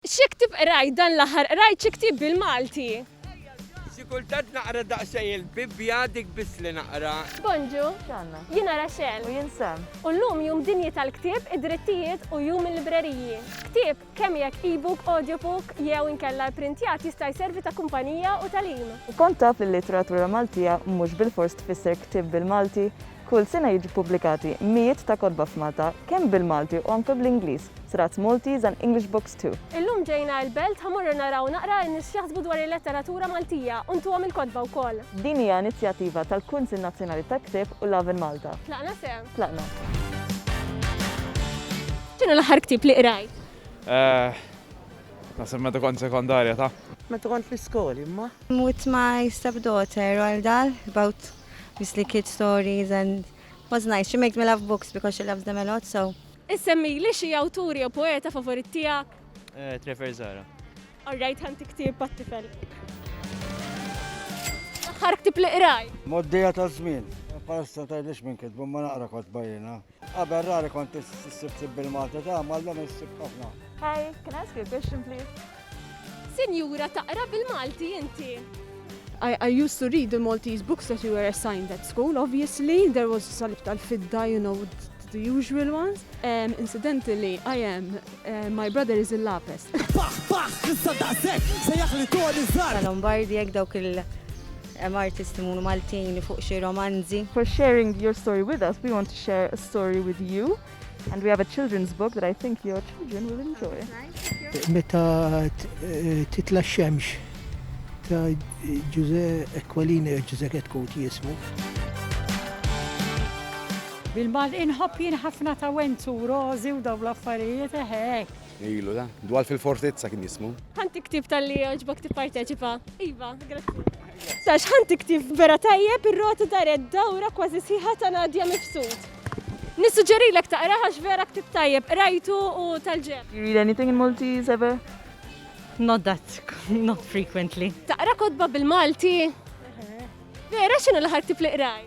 Xi ktieb qrajt dan l-aħħar? Qrajt xi ktieb bil-Malti? Xi kultant naqra daqsxejn il-Bibbja, dik biss li naqra. Bonġu. X'għandna? Jiena Rachel. U jien Sam. U llum Jum Dinji tal-Ktieb, id-Drittijiet u Jum il-Libreriji. Ktieb, kemm jekk e-book, audiobook, jew inkella ipprintjat jista' jservi ta' kumpanija u tagħlim. U kont taf li l-litteratura Maltija mhux bilfors tfisser ktieb bil-Malti? Kull sena jiġu ppubblikati mijiet ta' kotba f'Malta, kemm bil-Malti u anke bl-Ingliż, Srats Maltese and English Books too. Illum ġejna il-Belt ħa morru naraw naqra in-nies x'jaħsbu dwar il-letteratura Maltija u ntuhom il-kotba wkoll. Din hija inizjattiva tal-Kunsill Nazzjonali tal-Ktieb u Love in Malta. Tlaqna se? Tlaqna. X'inhu l-aħħar ktieb li qrajt? Eh. Naħseb meta kont sekondarja ta. Meta kont l-iskoli imma. With my stepdaughter Royal Dahl about. Misli kid stories and was nice. She makes me love books because she loves them a lot, so. Issemmili xi awtur jew poeta favorit tiegħek? Trevor Zara. Alright, ħa ntik ktieb għat-tifel. L-aħħar ktieb li qrajt? Moddija taż-żmien. Palissa tgħidlix min kitbu, imma naqra kotba jiena. Qabel rari kont issib tib bil-Malti ta' mallum issib ħafna. Hi, can I ask you a question please? Sinjura taqra bil-Malti inti? I, I used to read the Maltese books that you were assigned at school, obviously. There was salib tal-fidda, you know, the usual ones. Um, incidentally, I am My brother is il-lapes. Paħ, paħ, issa daqsek, sejjaħ li toni zar. Lombardi, jek dawk il- artisti munu Maltin li fuq xi romanzi. For sharing your story with us, we want to share a story with you. And we have a children's book that I think your children will enjoy. Meta eh, titla xemx ta' Giuseppe Aquilini, Giuseppe Koti jismu. Bil-Malti inħobb jien ħafna tawent u rożi u dawn l-affarijiet eħe hekk. Ilu da, dwal fil-fortizza kien jismu. Ħan tiktib tal-li joġbok tipparteċipa. Iva, grazzi. Sax ħan tiktib vera tajjeb ir-rota daret dawra kważi sħiħa ta' Nadja Mifsud. Nissuġġerilek taqra għax vera ktib tajjeb, rajtu u tal-ġeb. Do you read anything in Maltese ever? Not that, not frequently. Taqra kodba bil-Malti? Vera xinu l-ħar ktib li qraj?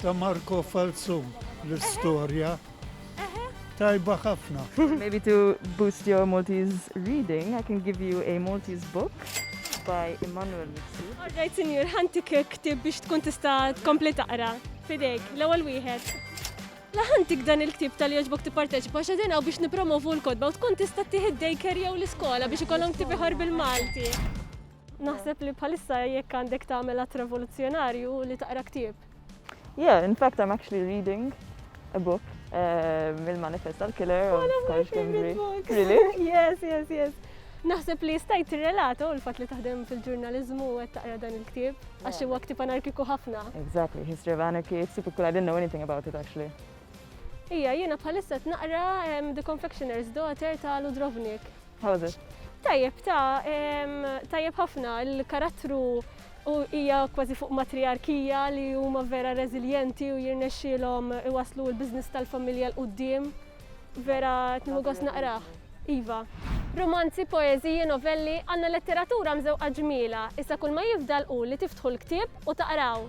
Ta' Marco Falzon l-istorja tajba ħafna. Maybe to boost your Maltese reading, I can give you a Maltese book by Emmanuel Mixi. All right, senjur, ħantik ktib biex tkun tista' tkompli taqra. Fidejk, l-ewwel wieħed. Laħantik dan il-ktib tal-joġbok tipparteċipa xedin għaw biex nipromovu l-kodba u tkun tista' tieħed daycare jew l-iskola biex ikollhom ktib iħor bil-Malti. Naħseb li bħalissa jekk għandek tagħmel att revoluzzjonarju li taqra ktieb. Yeah, in fact I'm actually reading a book eh, mill-manifest tal-killer of Scottish Gimri. Really? Yes, yes, yes. Naħseb li stajt relato oh, l-fat li taħdem fil-ġurnalizmu u għed taqra dan il-ktib, għax huwa ktib anarkiku ħafna. Exactly, History of Anarchy, it's typical, I didn't know anything about it actually. Ija, jiena bħalissa naqra The Confectioner's Daughter ta' Ludrovnik. How was it? Tajjeb ta, tajjeb ħafna, il-karattru u hija kważi fuq matriarkija li huma vera reżiljenti u jirnexxielhom iwaslu l-biżness tal-familja l qudiem Vera tniħu gost naqrah. Iva. Romanzi, poeżiji, novelli, għandna letteratura mżewqa ġmiela, issa kull ma jifdal hu li tiftħu l-ktieb u taqraw.